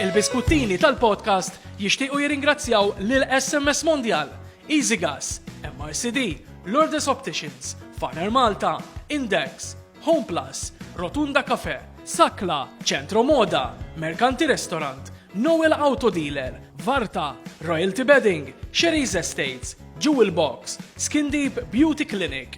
Il-biskuttini tal-podcast jixtiequ jirringrazzjaw lil SMS Mondial, Easy Gas, MRCD, Lourdes Opticians, Faner Malta, Index, Home Plus, Rotunda Cafe, Sakla, Centro Moda, Mercanti Restaurant, Noel Auto Dealer, Varta, Royalty Bedding, Sherry's Estates, Jewel Box, Skin Deep Beauty Clinic,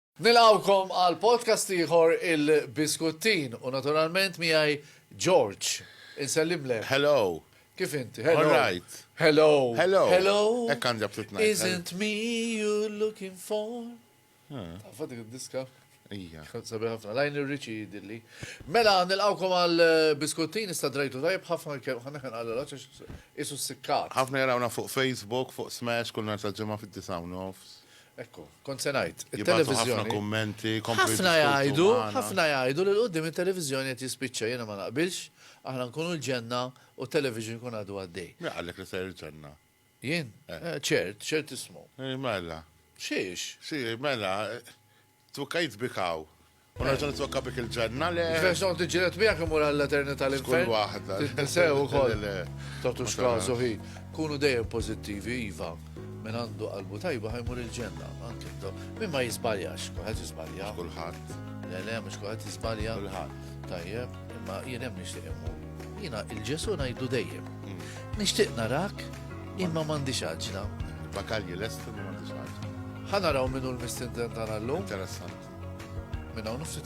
Nilqgħukom għal podcast ieħor Il-Biskuttin u naturalment miegħi George. Insellimlek. Hello. Kif inti? Hello. All right. Hello. Hello. Hello. Hekk għandi abtit ngħid. Isn't me you looking for? Tafa dik id-diska? Ija. Sabi ħafna, lajn irriċi dilli. Mela, nilqawkom għal eh, biskuttin sta drajtu tajb, ħafna kem ħana ħan għal l isu s-sikkat. ħafna jarawna fuq Facebook, fuq Smash, kull nar tal-ġemma fid-disawnof. Ekku, kont se ngħid, it-televiżjoni. Ħafna kummenti, ħafna jgħidu, ħafna jgħidu li l-qudiem it-televiżjoni qed jispiċċa jiena ma naqbilx, aħna nkunu l-ġenna u t-television ikun għadu għaddej. Min qallek li ser il-ġenna? Jien? Eh. Eh, ċert, ċert ismu. Eh, mela. Xiex? Xiex, mela. Twikkajt bik hawn. U nerġa' nitwekka bik il-ġenna, le. X'biex noqgħod niġġieled miegħek immur għall-eternità l-infern. F'kull waħda. Sew ukoll. Le, le. Tagħtux kasu hi. Kunu dejjem pożittivi, iva. Min għandu qalbu tajba ħa jmur il-ġenna. Anke intom. Min ma jiżbaljax, kulħadd jiżbalja. Kulħadd. Le, le, mhux kulħadd jiżbalja. Kulħadd. Tajjeb, imma jien hemm nixtieq immur. Jiena il-Ġesu ngħidlu dejjem. Nixtieq narak Imma m'għandix għaġla. Bakalji lesti ma m'għandix għaġla. Ħa naraw minnu l-mistindent tagħna llum. Interessanti. Minn hawn nofsi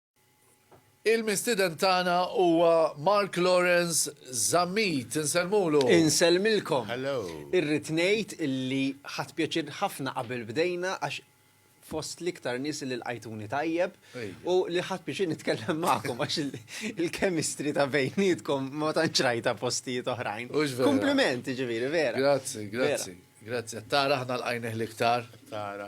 Il-mistieden tagħna huwa Mark Lawrence Zammit. Insellmulu. Insellmilkom. Irrid ngħid li ħadt pjaċir ħafna qabel bdejna għax fost l-iktar nies li lqajtuni tajjeb u li ħadt pjaċir nitkellem magħkom għax il-chemistry ta' bejnietkom ma tantx rajtha postijiet oħrajn. Kumpliment, jiġifieri, vera. Grazzi, grazzi. Grazzi. Tara aħna lqajnih l-iktar. Tara.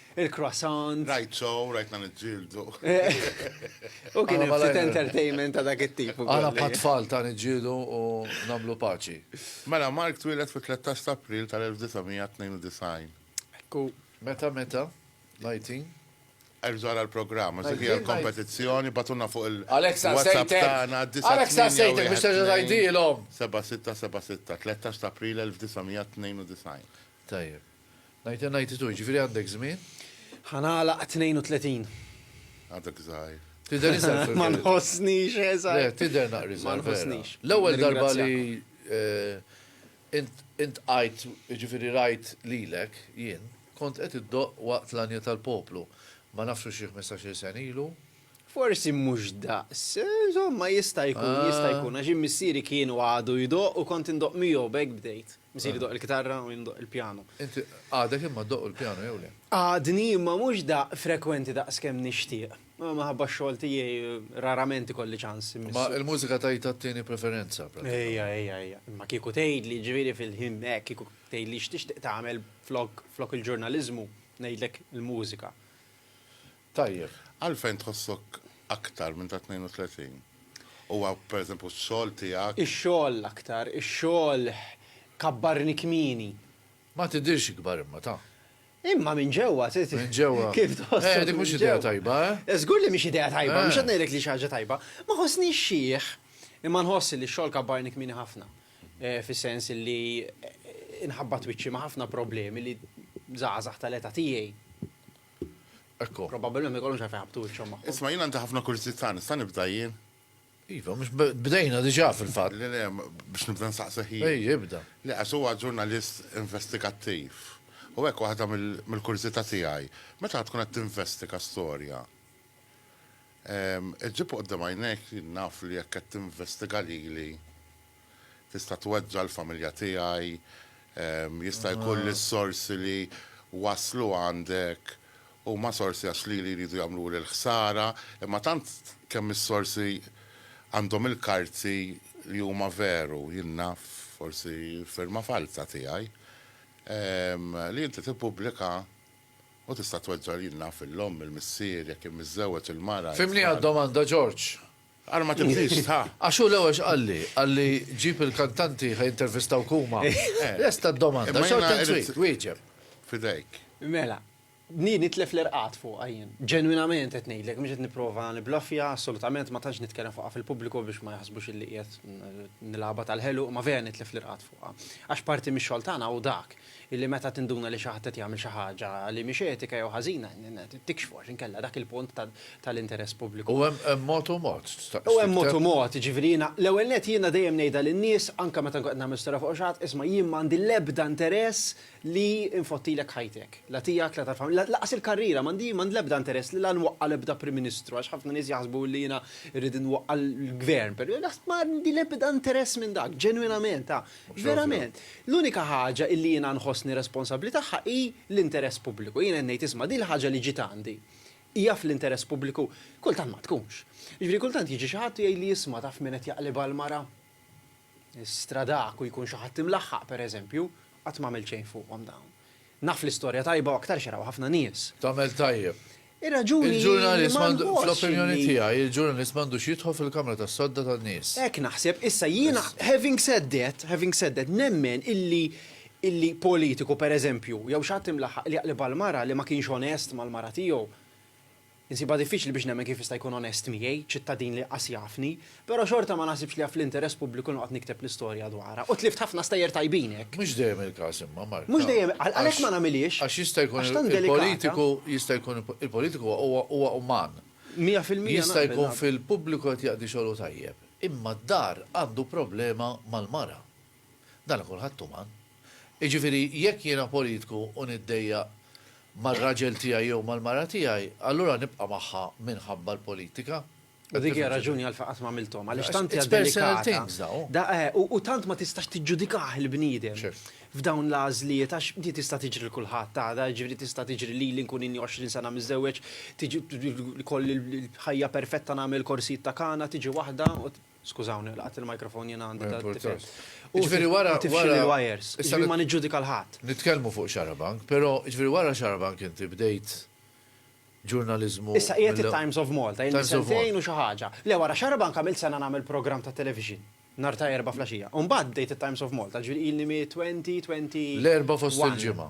il-croissant. Rajt show, rajtna niġġieldu. U kien hemm ftit entertainment ta' dak it-tip ukoll. Aħna bħal tfal ta' niġġieldu u nagħmlu paċi. Mela, Mark twieled fit-13 ta' April tal-1992. Ekku. Meta, meta? L-IT? Erġa' ara l-programm, għax dik hija l-kompetizzjoni, bagħtulna fuq il-WhatsApp tagħna d-9. Għalhekk sa sejtek biex terġa' tgħidilhom. 7676, 13 ta' April 1992. Tajjeb. Ninety ninety two, jiġifieri għandek żmien? Ħa nagħlaq 32. Għadek żgħir. Tidher iżgħar fil-verità. Ma nħossnix iżgħar. Le, tidher naqra iżgħar. Ma nħossnix. L-ewwel darba li int għidt, jiġifieri rajt lilek jien, kont qed iddoqq waqt l-għanja tal-poplu. Ma nafx hux xi ħmistax-il sena ilu. Forsi mhux daqs. Insomma, jista' jkun, jista' jkun, għax jien missieri kien u għadu jdoqq u kont indoqq miegħu, b'hekk bdejt. Missieri jdoqq il-kitarra u jien ndoqq il-pjanu. Inti għadek imma ddoqq il-pjanu jew le? Għadni, imma mhux daqq frekwenti daqs kemm nixtieq. Minħabba x-xogħol tiegħi rarament ikolli ċans immisshu. Imma il-mużika tgħidha t-tieni preferenza pratikament. Ejja, ejja, ejja. Imma kieku tgħidli, jiġifieri fil-ħin hekk, kieku tgħidli x'tixtieq tagħmel flok il-ġurnaliżmu, ngħidlek il-mużika. Tajjeb. Għalfejn tħossok aktar minn ta' 32? Huwa pereżempju x-xogħol tiegħek? Ix-xogħol l-aktar, ix-xogħol kabbarni kmieni. Ma tidhirx ikbar imma, ta. Imma minn ġewwa t. Minn ġewwa. Kif tħossok minn ġewwa. Eh, dik mhux idea tajba, eh? Żgur li mhix idea tajba, mhux qed ngħidlek li hi xi ħaġa tajba. Ma ħossnix xiħ, imma nħoss li x-xogħol kabbarni kmieni ħafna. Fis-sens li nħabbat wiċċi ma' ħafna problemi li żgħażagħ tal-età tiegħi. Ekku. Probabilment ma jkollhomx għalfejn ħabtu wiċċhom magħhom. Isma' jien għandi ħafna kurżità, nista' nibda jien? Iva, mhux bdejna diġà fil-fatt. Le, le, biex nibda nsaqsih jien. Ej, ibda. Le, għax huwa ġurnalist investigattiv. U hekk waħda mill-kurżità tiegħi, meta tkun qed tinvestiga storja, iġġib quddiem għajnejk li naf li jekk qed tinvestiga lili, Tista' tweġġa' l-familja tiegħi, jista' jkun li s-sorsi li waslu għandek huma sorsi għax lili jridu jagħmluli l-ħsara, imma tant kemm is-sorsi għandhom il-karti li huma veru, jien naf, forsi firma falza tiegħi, li inti tippubblika u tista' tweġġa' jien naf, il-omm, il-missier, jekk kien miżżewweġ, il-mara. Fhimniha d-domanda, George? Ara ma tibdix ta'. Għax hu l-ewwel x'qalli, qalli ġib il-kantanti ħa jintervistawk huma. Lesta d-domanda, x'għod tant trid, wieġeb. Fidejk. Mela, bniet nitlef l-irqad fuqha jien. Ġenwinament qed ngħidlek, mhux qed nipprova niblaffja, assolutament ma tantx nitkellem fuqha fil-pubbliku biex ma jaħsbux illi qiegħed nilgħabha tal-ħelu, imma vera nitlef l-irqad fuqha. Għax parti mix-xogħol tagħna hu dak. illi meta tinduna li xi ħadd qed jagħmel xi ħaġa li mhix etika jew ħażina, tikxfu għax inkella dak il-punt tal-interess pubbliku. U hemm mod u mod, tistaqsi. U hemm mod u mod, jiġifieri jiena, l-ewwel nett jiena dejjem ngħidha lin-nies, anke meta nkun qed nagħmel storja fuq xi ħadd, isma' jien ma għandi l-ebda interess li nfottilek ħajtek, la tiegħek, la tal-familja, lanqas il-karriera, m'għandi m'għandi l-ebda interess li la nwaqqa' l-ebda Prim Ministru, għax ħafna nies jaħsbu li jiena rrid inwaqqa' l-Gvern, m'għandi l-ebda interess minn dak, ġenwinament, Verament, l-unika ħaġa illi jiena nħossni responsabbli tagħha hi l-interess pubbliku. Jiena qed ngħid isma' din il-ħaġa li ġiet għandi hija fl-interess pubbliku? Kultant ma tkunx. Jiġifieri kultant jiġi xi ħadd u jgħidli isma' taf min qed jaqlibha l-mara? Is-stradak u jkun xi ħadd imlaħħaq pereżempju, qatt m'għamilt xejn fuqhom dawn. Naf li storja tajba u aktarx jaraw ħafna nies. Tagħmel tajjeb. Ir-raġuni hi li ma nħossx li. Fl-opinjoni tiegħi, il-ġurnalist m'għandux jidħol fil-kamra tas-sodda tan-nies. Hekk naħseb. Issa jiena having said that, having said that, nemmen illi illi politiku, pereżempju, jew xi ħadd imlaħħaq li jaqlibha l-mara li ma kienx onest mal-mara tiegħu, Insibha diffiċli biex nemmen kif jista' jkun onest miegħi, ċittadin li qas jafni, però xorta ma naħsibx li fl-interess pubbliku noqgħod nikteb l-istorja dwarha. U tlift ħafna stejjer tajbin hekk. Mhux dejjem il-każ imma, Mark. Mhux dejjem, għalhekk ma nagħmilhiex. Għax jista' jkun il-politiku, jista' jkun il-politiku huwa uman. Mija fil-mija naqbel. Jista' jkun fil-pubbliku qed jaqdi xogħlu tajjeb, imma d-dar għandu problema mal-mara. Dan kulħadd uman. Jiġifieri jekk jiena politku u niddejjaq mar-raġel tiegħi jew mal-mara tiegħi, allura nibqa' magħha minħabba l-politika? U dik hija r-raġuni għalfejn qatt m'għamilthom, għaliex tant hija delikata. U tant ma tistax tiġġudikah il-bniedem f'dawn l-għażliet għax di tista' tiġri lil kulħadd għada, jiġifieri tista' tiġri lili nkun inni 20 sena miżżewweġ, ikolli l-ħajja perfetta nagħmel korsijiet ta' kanna, tiġi waħda u. Skużawni, laqat il-microphone jiena għandi ta' tifel. Ġifieri wara. Tifxil il-wires. Issa ma niġġudika l-ħadd. Nitkellmu fuq xarabank, però ġifieri wara xarabank inti bdejt ġurnaliżmu. Issa qiegħed it-Times of Malta, ilni sentejn u xi ħaġa. Le wara xarabank għamilt sena nagħmel programm ta' television, nhar ta' Erbgħa flaxija. U mbagħad bdejt it-Times of Malta, ġifieri ilni mit-twenty, twenty. L-Erbgħa fost il-ġimgħa.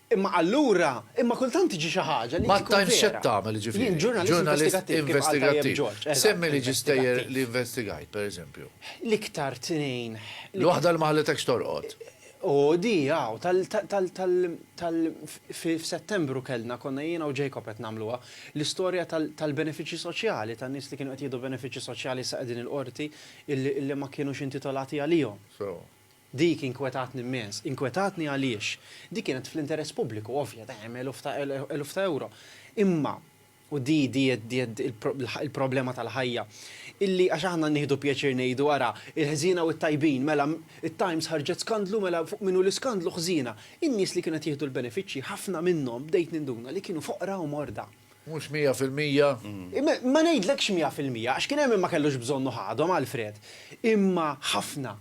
Imma allura, imma kultant tiġi xi ħaġa li Ma tkun vera. tgħinx x'qed tagħmel, jiġifieri. Jien ġurnalist investigattiv, kif qal tajjeb Ġorġ. Eżatt. Semmi li ġistejjer li investigajt, per eżempju. L-iktar tnejn. L-waħda li ma ħallitekx torqod. O, di, aw, tal, tal, tal, tal, fi, f'Settembru kellna, konna jiena u Jacob qed nagħmluha, l-istorja tal, tal-benefiċċji soċjali, tan-nies li kienu qed jieħdu benefiċċji soċjali issa qegħdin il-Qorti illi, illi ma kinux intitolati għalihom. So. Dik inkwetatni mmens. Inkwetatni għaliex? Dik kienet fl-interess pubbliku, ovvja, dejjem eluf ta' eluf ta' ewro. Imma, u di di il-problema tal-ħajja, illi għax aħna nieħdu pjaċir ngħidu ara, il-ħżiena u t-tajbin, mela, it-Times ħarġet skandlu, mela fuq min hu l-iskandlu, ħżiena. In-nies li kienu qed jieħdu l-benefiċċji, ħafna minnhom, bdejt ninduna, li kienu foqra u morda. Mhux mija fil-mija. Ma ngħidlekx mija fil-mija, għax kien hemm min ma kellux bżonn u ħadhom, Alfred. Imma ħafna,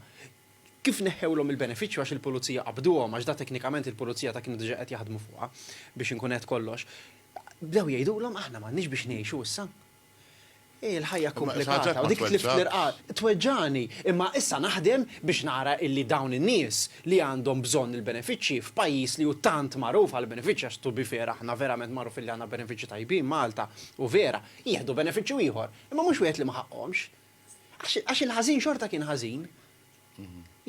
kif neħħewlhom il-benefiċċju għax il-Pulizija qabduhom, għax da teknikament il-Pulizija ta' kienu diġà qed jaħdmu fuqha, biex inkun għedt kollox, bdew jgħidulhom aħna m'għandniex biex ngħixu issa. Hi l-ħajja komplikata u dik tlift l-irqad tweġġagħni, imma issa naħdem biex nara illi dawn in-nies li għandhom bżonn il-benefiċċji f'pajjiż li hu tant magħruf għall-benefiċċji għax to be fair aħna verament magħrufin li għandna benefiċċji tajbin Malta u vera, jieħdu benefiċċju ieħor, imma mhux wieħed li ma ħaqqhomx. Għax il-ħażin xorta kien ħażin.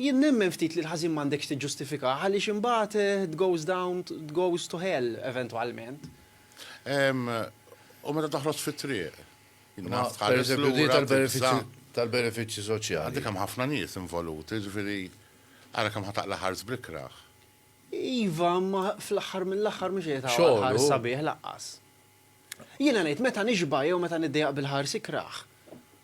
Jien nemmen ftit li l-ħażin m'għandekx tiġġustifikah għaliex imbagħad it goes down it goes to hell eventwalment. U meta toħroġ fit-triq? Pereżempju di tal-benefiċċji soċjali. Għandek hemm ħafna nies involuti, ġifieri ara kemm ħa taqla' ħars bl-ikrah. Iva, imma fl-aħħar mill-aħħar mhux qed taqla' ħars sabiħ lanqas. Jiena ngħid meta nixba' jew meta niddejjaq bil-ħars ikrah,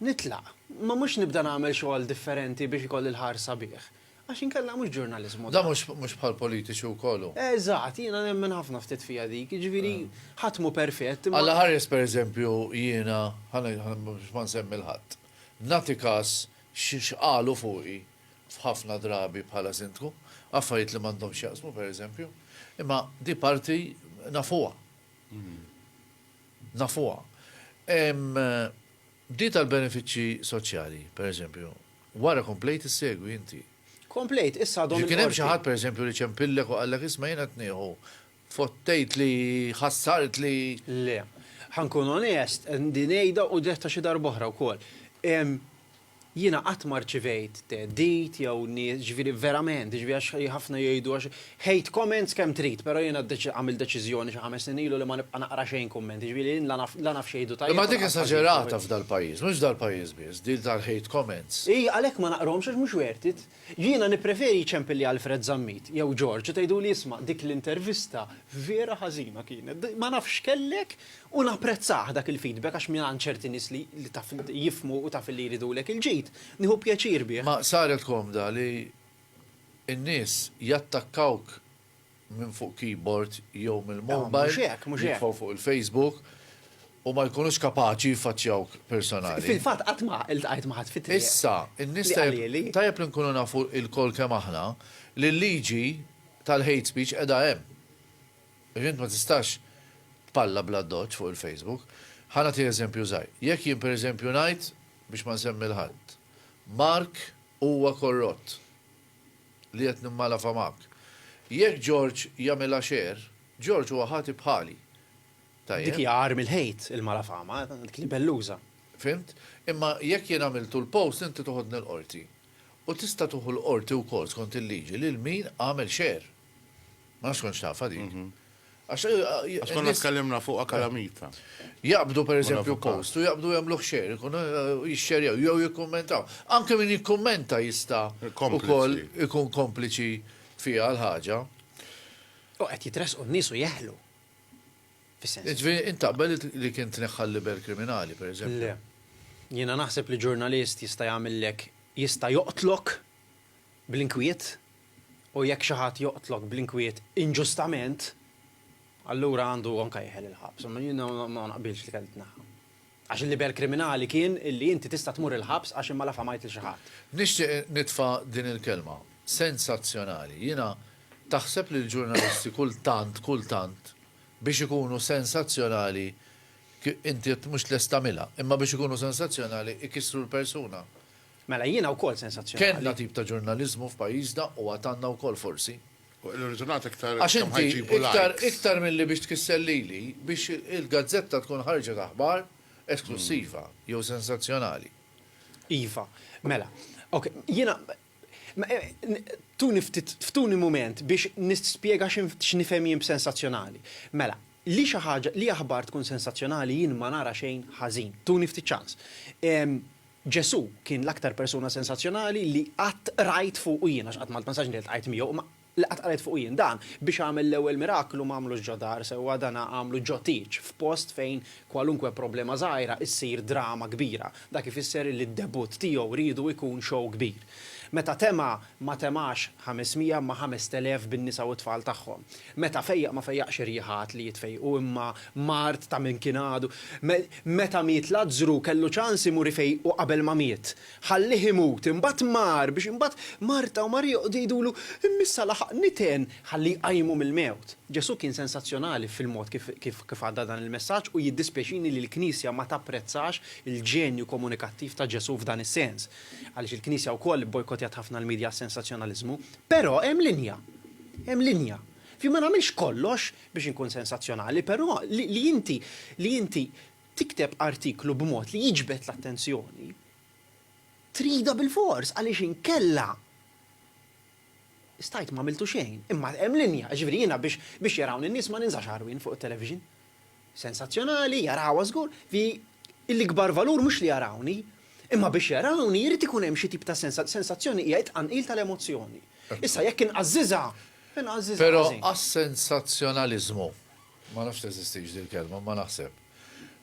nitlaq, ma mhux nibda nagħmel xogħol differenti biex ikolli l-ħars sabiħ. Għax inkella mhux ġurnaliżmu dan. Dan mhux bħall-politiċi wkoll hu. Eżatt, jiena nemmen ħafna ftit fiha dik, jiġifieri ħadd mhu perfett imma. Alla ħares pereżempju jiena, biex ma nsemmi 'l ħadd, nagħti kas x'qalu fuqi f'ħafna drabi bħala Sindku, affarijiet li m'għandhomx x'jaqsmu pereżempju, imma di parti nafuha. nafuha. Di tal-benefiċċji soċjali, pereżempju, wara komplejt issegwi inti. Komplejt, issa għadhom il-Qorti. Kien hemm xi ħadd pereżempju li ċempillek u qallek isma' jiena qed nieħu, fottejtli, ħassartli. Le. Ħa nkun onest, din ngħidha u dirtha xi darb'oħra wkoll. Jiena qatt ma rċivejt theddid jew nies, ġifieri verament, ġifieri għax ħafna jgħidu għax hate comments kemm trid, però jiena għamilt deċiżjoni xi ħames snin ilu li ma nibqa' naqra xejn kummenti, ġifieri jien la naf la naf x'jgħidu tajjeb u la naf x'jgħidu ħażin. Imma dik esaġerata f'dal-pajjiż, mhux dal-pajjiż biss, din tal-hate comments. Hi, għalhekk ma naqrahomx għax mhux worth it. Jiena nippreferi jċempilli Alfred Zammit jew George u tgħiduli isma' dik l-intervista vera ħażina kienet. Ma nafx x'kellek u napprezzah dak il-feedback għax mingħand ċerti nies li taf jifhmu u taf illi jridulek il-ġid, nieħu pjaċir bih. Ma saret komda li n-nies jattakkawk minn fuq keyboard jew mill-mobile, jidħlu fuq il-Facebook u ma jkunux kapaċi jiffaċċjawk personali. Fil-fatt qatt ma ltqajt ma' ħadd fit-triq. Issa, in-nies tajjeb li nkunu nafu lkoll kemm aħna li l-liġi tal-hate speech qiegħda hemm. Għax int ma tistax tpalla bl-addoċċ fuq il-Facebook. Ħa nagħti eżempju żgħir. Jekk jien pereżempju ngħid, biex ma nsemmi 'l ħadd, Mark huwa korrott. li qed nimmalafha magħk. Jekk George jagħmilha share, George huwa ħati bħali. Tajjeb? Dik hija agħar mill-hate, il-malafama, dik libelluża. Fhimt? Imma jekk jien għamiltu l-post inti toħodni l-Qorti. U tista' tuħu l-Qorti wkoll skont il-liġi lil min għamel share. Ma nafx kontx tafha dik. Għax konna tkellimna fuqha kalamita. Jaqbdu pereżempju post u jaqbdu jagħmluh share, ikun jixxerjaw jew jikkummentaw. Anke min jikkummenta jista' ukoll ikun kompliċi fiha l-ħaġa. U qed jitressqu n-nies u jeħlu. Jiġifieri int taqbel li kien tneħħa l-liber kriminali pereżempju? Le. Jiena naħseb li ġurnalist jista' jagħmillek jista' joqtlok bl-inkwiet. U jekk xi ħadd joqtlok bl-inkwiet inġustament, allura għandu anke jeħel il-ħabs. Imma jien ma naqbilx li kelli tneħħa. Għax il-liber kriminali kien li inti tista' tmur il-ħabs għax imma la famajt lil xi ħadd. Nixtieq nitfa' din il-kelma. Sensazzjonali. Jiena, taħseb li l-ġurnalisti kultant, kultant, biex ikunu sensazzjonali, inti mhux lest tagħmilha, imma biex ikunu sensazzjonali ikissru l-persuna? Mela jiena wkoll sensazzjonali. Kellna tip ta' ġurnaliżmu f'pajjiżna u għad għandna wkoll forsi. Irridu nagħtu iktar Għax kemm inti ħajġibu iktar likes. iktar milli biex tkisser lili, biex il-gazzetta tkun ħarġet aħbar esklussiva jew sensazzjonali. Iva. Mela. Ok. Jiena tuni ftit ftuni mument biex nispjega x'nifhem jien b'sensazzjonali. Mela, li xi ħaġa li aħbar tkun sensazzjonali jien ma nara xejn ħażin. Tuni ftit ċans. Ġesù kien l-aktar persuna sensazzjonali li qatt qrajt fuqu jien, għax qatt ma ltmsax li ltqajt miegħu, imma li qatt qrajt fuqu jien. Dan, biex għamel l-ewwel miraklu, m'għamlux ġo dar, sewwa dana għamlu ġo tieġ, f'post fejn kwalunkwe problema żgħira issir drama kbira. Dak ifisser li d-debutt tiegħu riedu jkun show kbir. Meta tema, ma temax 500 imma 5,000 bin-nisa u t-tfal tagħhom. Meta fejjaq ma fejjaqx ir-riħa għad li jitfejjqu imma mard ta' min kien għadu. Meta miet Lazzru kellu ċans imur ifejjqu qabel ma miet. Ħallieh imut, imbagħad mar biex imbagħad Marta u Marija joqogħdu jgħidulu, Imma issa laħaq niten ħalli jqajmu mill-mewt. Ġesù kien sensazzjonali fil-mod kif għadda dan il-messaġġ u jiddispjaċini li l-Knisja ma tapprezzax il-ġenju komunikattiv ta' Ġesù f'dan is-sens. Għaliex il-Knisja wkoll ibbojkottjat ħafna l-midja għas-sensazzjonaliżmu. Però hemm linja. Hemm linja. F'jien ma nagħmilx kollox biex inkun sensazzjonali, però li inti li inti tikteb artiklu b'mod li jiġbed l-attenzjoni tridha bilfors għaliex inkella stajt m'għamiltu xejn. Imma hemm linja, jiġifieri jiena biex biex jarawni n-nies ma ninżax għarwien fuq it-television. sensazzjonali, jarawha żgur, fi l-ikbar valur mhux li jarawni, imma biex jarawni jrid ikun hemm xi tip ta' sensa, sensazzjoni hija t-tqanqil tal-emozzjoni. Issa jekk inqażżiżha, inqażżiżha Però ħażin. għas-sensazzjonaliżmu, ma nafx teżistix din il-kelma, imma naħseb,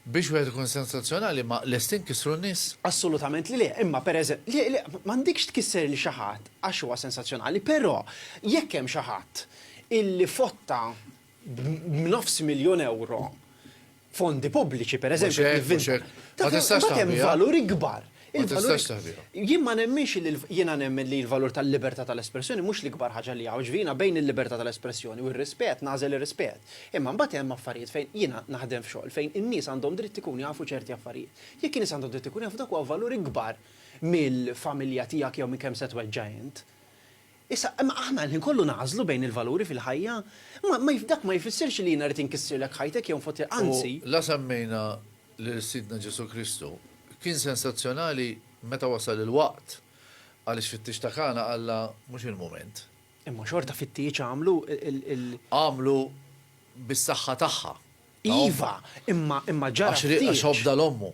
biex wieħed ikun sensazzjonali ma lesti nkissru n-nies? Assolutament li le, imma pereżem, le, le, m'għandekx tkisser lil xi ħadd għax huwa sensazzjonali, però jekk hemm xi ħadd illi fotta b'nofs miljun ewro fondi pubbliċi, per eżempju, nivvinta. Ma tistax taħbi. Valur ikbar. Ma tistax taħbi. Jien ma nemminx li jiena nemmen li l-valur tal-libertà tal-espressjoni mhux l-ikbar ħaġa li hawn. Ġifieri jiena bejn il-libertà tal-espressjoni u r-rispett nagħżel ir-rispett. Imma mbagħad hemm affarijiet fejn jiena naħdem f'xogħol fejn in-nies għandhom dritt ikunu jafu ċerti affarijiet. Jekk in-nies għandhom dritt ikunu jafu dak huwa valur ikbar mill-familja tiegħek jew minn kemm se tweġġa' int. Issa, imma aħna l-ħin kollu nagħżlu bejn il-valuri fil-ħajja. Ma, ma, dak ma jfissirx li jiena rrid inkissirlek ħajtek jew nfottilha, U anzi. la semmejna lil Sidna Ġesù Kristu. Kien sensazzjonali meta wasal il-waqt, għaliex fit-tieġ ta' Kana qallha, Mhux il-mument. Imma xorta fit-tieġ għamlu l. Għamlu bis-saħħa tagħha, ta' ommha. Iva, imma, imma ġara t-tieġ. Għax, għax obda 'l ommu.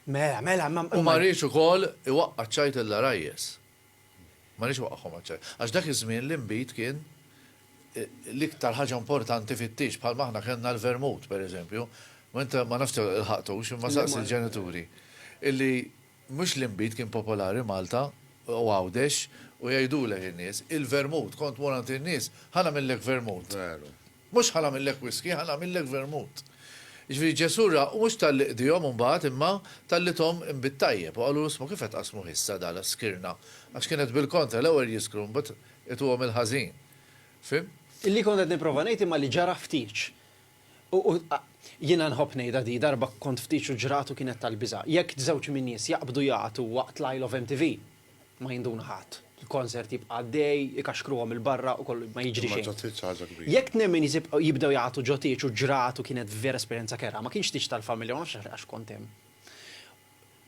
Mela, mela, imma, imma. U ma riedx ukoll iwaqqa' ċ-ċajt il-għarajjes. Ma rridx iwaqqagħhom għaċ-ċajt. Għax dak iż-żmien l-inbid kien l-iktar ħaġa importanti fit-tieġ, bħalma aħna kellna l-vermut, per eżempju. Ma int ma nafx ilħaqtux, imma saqsi l-ġenituri. Illi mhux l-inbid kien popolari Malta u Għawdex u jgħidulek in-nies, il-vermut, kont tmur għand in-nies, ħa nagħmillek vermut. Veru. Mhux ħa nagħmillek whiskey, ħa nagħmillek vermut. Jiġifieri Ġesù ra, u mhux talli qdihom imbagħad, imma talli thom inbid tajjeb, u qalulu, 'Isma' kif qed tqassmuh issa da, l-skirna? Għax kien qed bil-kontra, l-ewwel jiskru, imbagħad ituhom il-ħażin. Fhimt? Li kont qed nipprova ngħid imma li ġara ħtieġ. U, u, a, jiena nħobb ngħidha di, darba kont f'tieġ u ġrat u kienet tal-biża'. Jekk żewġ min-nies jaqbdu jagħtu waqt l-Isle of MTV, Ma jinduna ħadd. Il-konsert jibqa' għaddej, ikaxkruhom 'il barra u kollu ma jiġri xejn. Imma ġotieġ xi ħaġa kbira. Jekk temmen jibdew jagħtu ġotieġ u ġrat u kienet vera esperjenza kerha, ma kienx tieġ tal-familja u ma nafx għax kont hemm.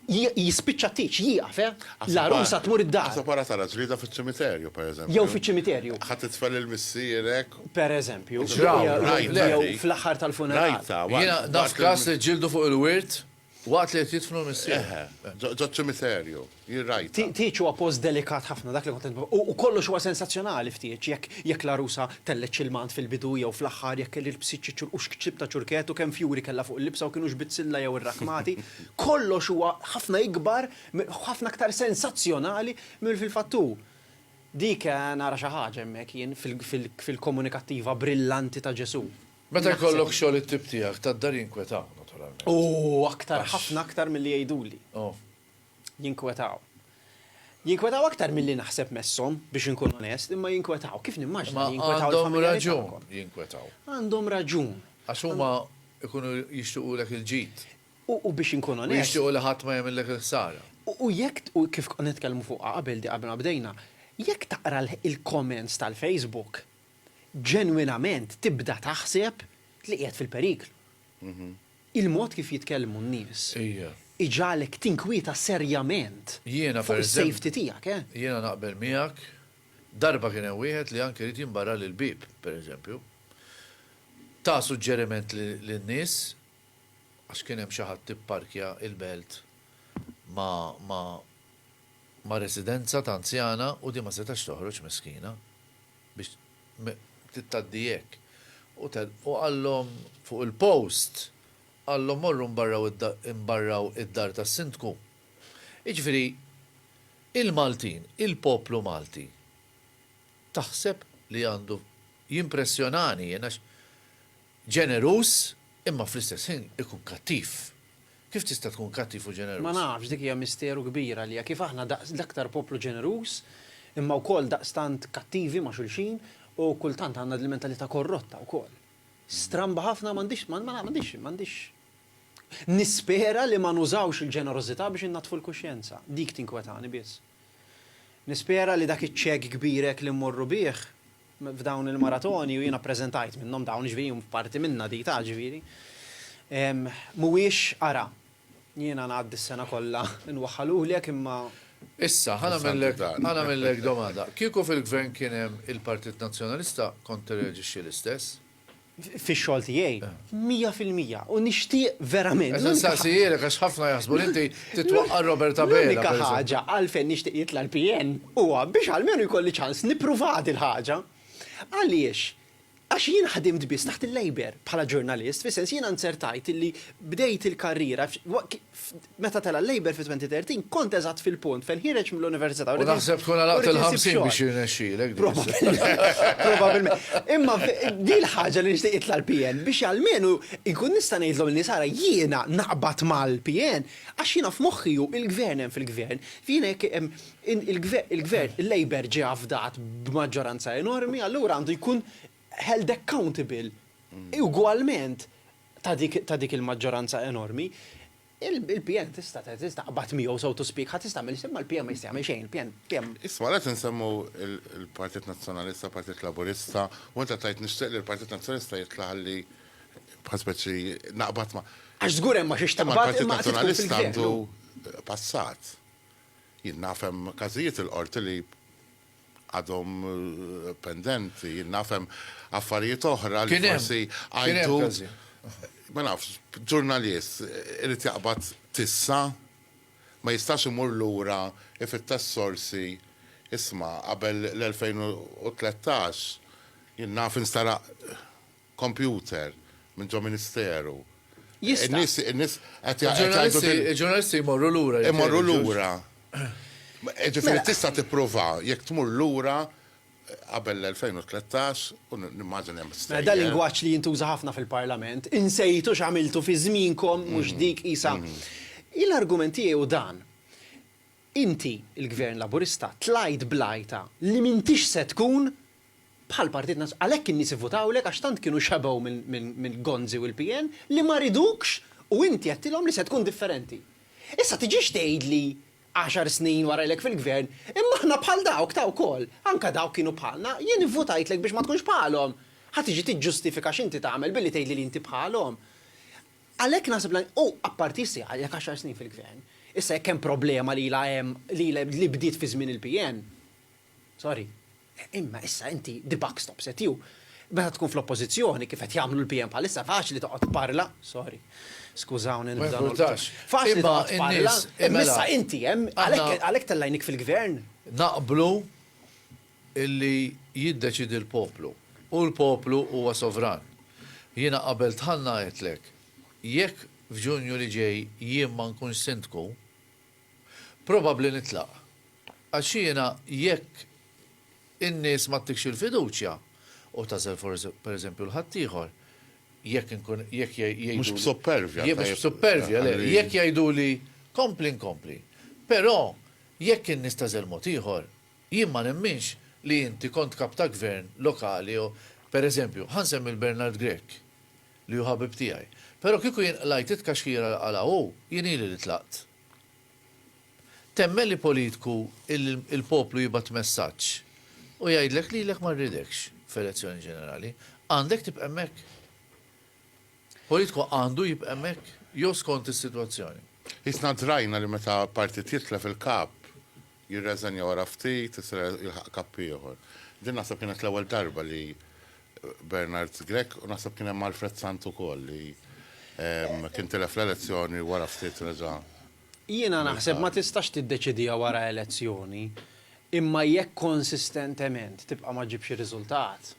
Jispiċċa t-tieġ, jieqaf, eh! L-għarusa tmur id-dar. Aħseb wara tara ġlieda fiċ-ċimiterju, pereżempju. Jew fiċ-ċimiterju. Ħadt it-tfal lil missierek. Pereżempju. Jew fl-aħħar tal-funeral. Rajtha. Jiena naf każ li ġġieldu fuq il-wirt Waqt li qed jidfnu l-missier. Eħe, ġoċ-ċimiterju, jien rajtha. Tieġ huwa post delikat ħafna, dak li kont qed nipprova. U kollox huwa sensazzjonali f'tieġ, jekk jekk l-għarusa tellgħet x'ilmant fil-bidu jew fl-aħħar, jekk ilbsiet xi ċur u x'kċib ta' ċurket u kemm fjuri kellha fuq il-libsa u kinux bizzilla jew irrakkmati, kollox huwa ħafna ikbar, ħafna aktar sensazzjonali milli fil-fatt hu. Dik nara xi ħaġa hemmhekk jien fil-komunikattiva brillanti ta' Ġesù. Meta jkollok xogħol it-tip tiegħek, tad-dar jinkwetaw, naturalment. U aktar, ħafna aktar milli jgħiduli. Jinkwetaw. Jinkwetaw aktar milli naħseb messhom, biex inkun onest, imma jinkwetaw. Kif nimmaġina li jinkwetaw? Għandhom raġun jinkwetaw. Għandhom raġun. Għax huma jkunu jixtiequlek il-ġid. U biex inkun onest. U jixtiequ li ħadd ma jagħmillek il-ħsara. U jekk, u kif konna nitkellmu fuqha qabel di qabel ma bdejna, jekk taqra l-comments tal-Facebook, ġenwinament tibda taħseb li qiegħed fil-periklu. Il-mod kif jitkellmu n-nies iġagħlek tinkwieta serjament fuq is-safety tiegħek. Jiena naqbel miegħek. Darba kien hemm wieħed li anke ried jimbarrali l-bieb, pereżempju. Ta suġġeriment lin-nies, għax kien hemm xi ħadd ipparkja il-belt ma' residenza ta' anzjana u din ma setax toħroġ miskina. biex tittgħaddi hekk. U qallhom fuq il-post, qallhom morru mbarraw id-dar tas-Sindku. Jiġifieri il-Maltin, il-poplu Malti taħseb li għandu jimpressjonani jien għax Ġeneruż, imma fl-istess ħin ikun kattiv. Kif tista' tkun kattiv u ġeneruż? Ma nafx, dik hija misteru kbir għalija, kif aħna daqs l-aktar poplu ġeneruż, imma wkoll daqstant kattivi ma' xulxin, u kultant għandna din il-mentalità korrotta wkoll. Stramba ħafna, ma għandix, ma għandix, ma għandix. Nispera li ma nużawx il-ġenerożità biex innaddfu l-kuxjenza. Dik tinkwetani biss. Nispera li dak iċ-ċekk kbir hekk li mmorru bih, f'dawn il-maratoni u jiena ppreżentajt minnhom dawn, jiġifieri huma parti minnha di ta' jiġifieri, mhuwiex ara jiena ngħaddi s-sena kollha nwaħħalulek imma. Issa, ħa nagħmillek, ħa nagħmillek domanda. Kieku fil-Gvern kien hemm il-Partit Nazzjonalista kont tirreaġixxi l-istess? fix-xogħol tiegħi, mija fil-mija, u nixtieq verament. Qed insaqsijilek għax ħafna jaħsbu li inti titwaqqa' Robert Abela. L-unika ħaġa għalfejn nixtieq jitla' l-PN huwa biex almenu jkolli ċans nippruvaha dil-ħaġa. Għaliex? Għax jien ħdimt biss taħt il-Labour bħala ġurnalist, fis-sens jiena nzertajt illi bdejt il-karriera Meta tela' l-Labour fit-2013, kont eżatt fil-punt fejn ħireġt mill-università u rrid insib xogħol. U naħseb tkun għalaqt il-50 biex jirnexxielek din is-sitwazzjoni. Probabbilment. Imma din il-ħaġa li nixtieq jitla' l-PN biex almenu inkun nista' ngħidlhom lin-nies ara jiena naqbad mal-PN għax jiena f'moħħi hu l-Gvern hemm fil-Gvern. Jiena jekk il-Gvern, il-Labour ġie afdat b'maġġoranza enormi allura għandu jkun held accountable ugwalment ta' dik il-maġġoranza enormi, il-PN tista' taqbad miegħu so to speak, ħadd jista' jagħmel, imma l-PN ma jista' jagħmel xejn, il-PN. Isma' għalhekk insemmu l-Partit Nazzjonalista, l-Partit Laburista, u inti qed tgħid nixtieq li l-Partit Nazzjonalista jitla' ħalli bħal speċi naqbad ma'. Għax żgur hemm ma' xiex taqbad. Imma l-Partit Nazzjonalista għandu passat. Jien naf hemm każijiet il-Qorti li għadhom pendenti, jien naf hemm affarijiet oħra li forsi għajtu. Ma nafx, ġurnalist irid jaqbad tissa, ma jistax imur lura ifittex sorsi, isma' qabel l-2013 jien naf instaraq, kompjuter minn ġo ministeru. Jista'. In-nies qed jgħidu din. Il-ġurnalisti jmorru lura. Imorru lura. Jiġifieri tista' tipprova jekk tmur lura qabel l-2013 u nimmaġina li hemm stejjer. Dan lingwaġġ li jintuża ħafna fil-Parlament, insejtu x'għamiltu fi żmienkom mhux dik qisha. Jien l-argument tiegħi hu dan. Inti, il-Gvern Laburista, tlajt bl-għajta li m'intix se tkun bħall-Partit Nazzjonalista. Għalhekk in-nies ivvutawlek għax tant kienu xebgħu mill-Gonzi u l-PN li ma ridukx u inti għedtilhom li se tkun differenti. Issa tiġix tgħidli għaxar snin wara ilek fil-Gvern, imma aħna bħal dawk ta' wkoll, anke dawk kienu bħalna, jien ivvutajtlek biex ma tkunx bħalhom. Ħa tiġi tiġġustifika x'inti tagħmel billi tgħidli li inti bħalhom. Għalhekk naħseb li u apparti issa għadek għaxar snin fil-Gvern, issa jekk hemm problema li ilha hemm li ilha li bdiet fi żmien il-PN, sorry, imma issa inti the buck stops at you. Meta tkun fl-Oppożizzjoni, kif qed jagħmlu l-PN bħalissa, faċli toqgħod tparla, sorry, skużawni nibda nolqot, faċli toqgħod tparla, imma issa inti hemm għalhekk għalhekk tellgħinik fil-Gvern. Naqblu illi jiddeċiedi l-poplu, u l-poplu huwa sovran. Jiena qabilt Ħanna għedtlek, jekk f'Ġunju li ġej jien ma nkunx Sindku, probabbli nitlaq. Għax jiena jekk in-nies ma ttikx il-fiduċja, u tagħżel forsi pereżempju 'l ħaddieħor, jekk inkun, jekk jgħiduli. Mhux b'suppervja. Mhux b'suppervja, le, jekk jgħiduli kompli nkompli. Però jekk in-nies tagħżel mod ieħor, Jien ma nemminx li inti kont kap ta' gvern lokali jew, per eżempju, ħa nsemmi 'l Bernard Grech li hu ħabib tiegħi, però kieku jien qlajt it-tkaxkira li qala' hu, jien ili li tlaqt. Temmen li politku il-poplu jibgħat messaġġ u jgħidlek lilek ma rridekx f'elezzjoni ġenerali? Għandek tibqa' hemmhekk? Politku għandu jibqa' hemmhekk jew skont is-sitwazzjoni? Isna drajna li meta partit jitlef il-kap, Jirreżenja wara ftit, issa jilħaq kapp ieħor. Din naħseb kienet l-ewwel darba li Bernard Grech u naħseb kien hemm Alfred Sant ukoll li kien tilef l-elezzjoni u wara ftit reġa'. Jiena naħseb ma tistax tiddeċidiha wara elezzjoni, imma jekk konsistentement tibqa' ma ġġibx ir-riżultat.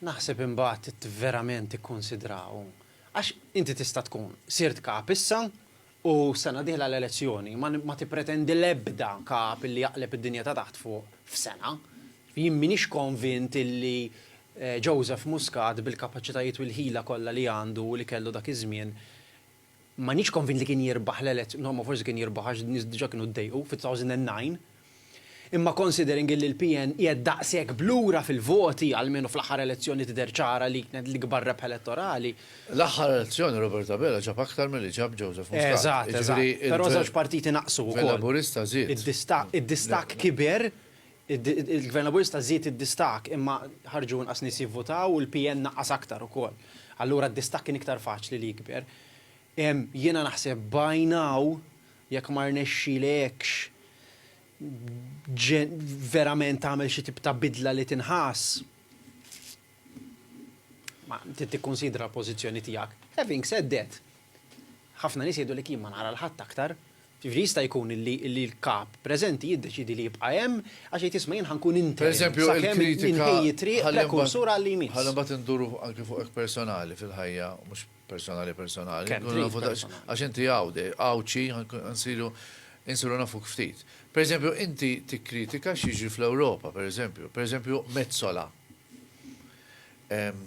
Naħseb imbagħad trid verament tikkunsidra hawn. Għax inti tista' tkun sirt Kap issa u s-sena d-dieħla l-elezzjoni, ma ma tippretendi l-ebda Kap illi jaqleb id-dinja ta' taħt fuq f'sena. Jien m'iniex konvint illi Joseph Muscat bil-kapaċitajiet u l-ħila kollha li għandu u li kellu dak iż-żmien, M'għadnix konvint li kien jirbaħ l-elez, no ma forsi kien jirbaħ għax n-nies diġa kienu ddejqu fi 2009. Imma considering illi l-PN qiegħed daqshekk b'lura fil-voti, almenu fl-aħħar elezzjoni tidher ċara li kienet l-ikbar rebħa elettorali. L-aħħar elezzjoni Robert Abela ġab aktar milli ġab Joseph Muscat. Eżatt, eżatt. Però żewġ partiti naqsu wkoll. Il-Laburista żied. Id-distakk kiber Il-Gvern Laburista żied id-distakk imma ħarġu inqas nies jivvutaw u l-PN naqqas aktar ukoll. Allura d-distakk kien iktar faċli li jikber. Jiena naħseb by now jekk ma rnexxilekx verament tagħmel xi tip ta' bidla li tinħass, trid tikkunsidra l-pożizzjoni tiegħek. Having said that, ħafna nies jgħidulek jien ma nara 'l ħadd aktar, Jiġifieri jista' jkun li l-kap preżenti jiddeċiedi li jibqa' hemm għax jgħid isma' jien ħa nkun interim sakemm inħejji t-triq prekursur għall-EMIS. Ħalli mbagħad induru anki fuqek personali fil-ħajja, mhux personali personali, inkunu nafu daqsxejn, għax inti Għawdxi, insiru nafuk ftit. Per eżempju, inti tikkritika x'jiġri fl-Ewropa, per eżempju, per eżempju Metsola.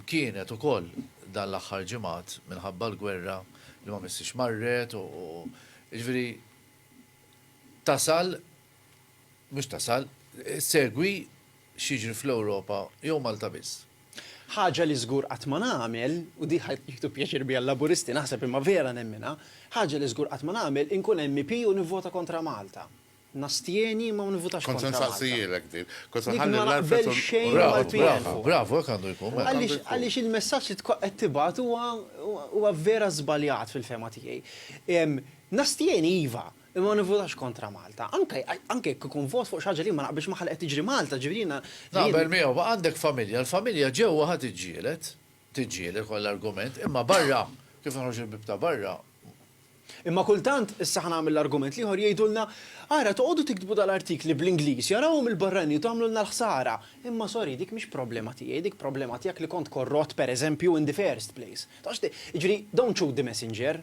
Kienet ukoll dan l-aħħar ġimgħat minħabba l-gwerra li ma missiex marret u jiġifieri tasal mhux tasal issegwi x'jiġri fl-Ewropa jew Malta biss. Ħaġa li żgur qatt ma nagħmel, u din ħa jieħdu pjaċir biha l-Laburisti naħseb imma vera nemminha, ħaġa li żgur qatt ma nagħmel inkun MEP u nivvota kontra Malta. Nastjeni imma ma nivvutax kontra Malta. Kont se nsaqsijilek din. Kont se nħalli l-Alfred u l-Pieħu. Bravu, hekk għandu jkun. Għaliex il-messaġġ li qed tibgħat huwa vera żbaljat fil-fehma tiegħi. Nastjeni iva, imma ma nivvutax kontra Malta. Anke jekk ikun vot fuq xi ħaġa li jien ma naqbilx magħha li qed tiġri Malta, ġifieri jiena. Naqbel miegħu, ma għandek familja, l-familja ġewwa ħa tiġġieled. Tiġġieled kont l-argument, imma barra, kif noħroġ il-bieb ta' barra. Imma kultant, issa ħa nagħmel l-argument l-ieħor, jgħidulna, ara toqgħodu tiktbu dal-artikli bl-Ingliż, jarawhom il-barranin u tagħmlulna l-ħsara. Imma sorry, dik mhix problema tiegħi, dik problema tiegħek li kont korrott, pereżempju, in the first place. Taf x'ngħid? Jiġifieri, don't shoot the messenger.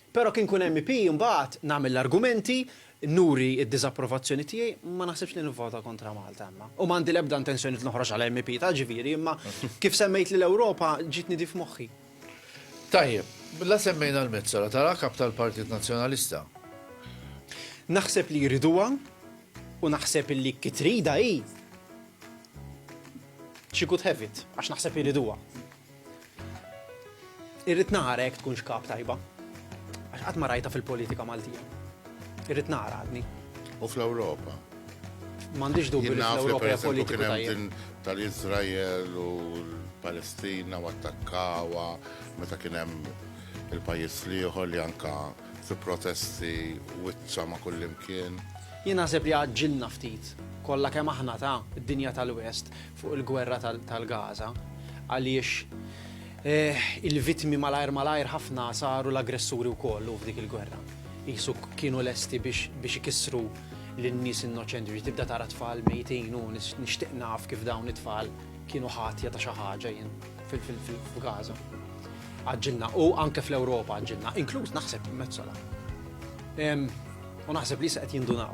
Però kien nkun MEP imbagħad nagħmel l-argumenti, nuri d-diżapprovazzjoni tiegħi, ma naħsibx li nivvota kontra Malta imma. U m'għandi l-ebda intenzjoni li noħroġ bħala MEP ta' Ġifieri imma kif semmejt li l-Ewropa ġietni di f'moħħi. Tajjeb, la semmejna l-Metsola, taraha Kap tal-Partit Nazzjonalista? Naħseb li jriduha u naħseb illi ki tridha hi, she could have it, għax naħseb jriduha. Irrid nara jekk tkunx kap tajba. Għax qatt ma rajta fil-politika Maltija. Irrid nara għadni. U fl-Ewropa? M'għandix dubju li fl-Ewropa hija politika tal-Iżrael u l-Palestina u attakkawa meta kien hemm il-pajjiż liħor li anka fi protesti wiċċa ma' kullimkien. Jien naħseb li għaġġilna ftit kollha kemm aħna ta' dinja tal-West fuq il-gwerra tal-Gaza għaliex il-vittmi malajr malajr ħafna saru l-aggressuri wkoll u f'dik il-gwerra. Jisu kienu lesti biex ikissru lin-nies innoċenti biex tibda tara tfal mejtin u nixtieq naf kif dawn it-tfal kienu ħatja ta' xi ħaġa jien fil-Gaza. Għaġġilna u anke fl-Ewropa għaġġilna, inkluż naħseb Mezzola. U naħseb li se qed jindunaw.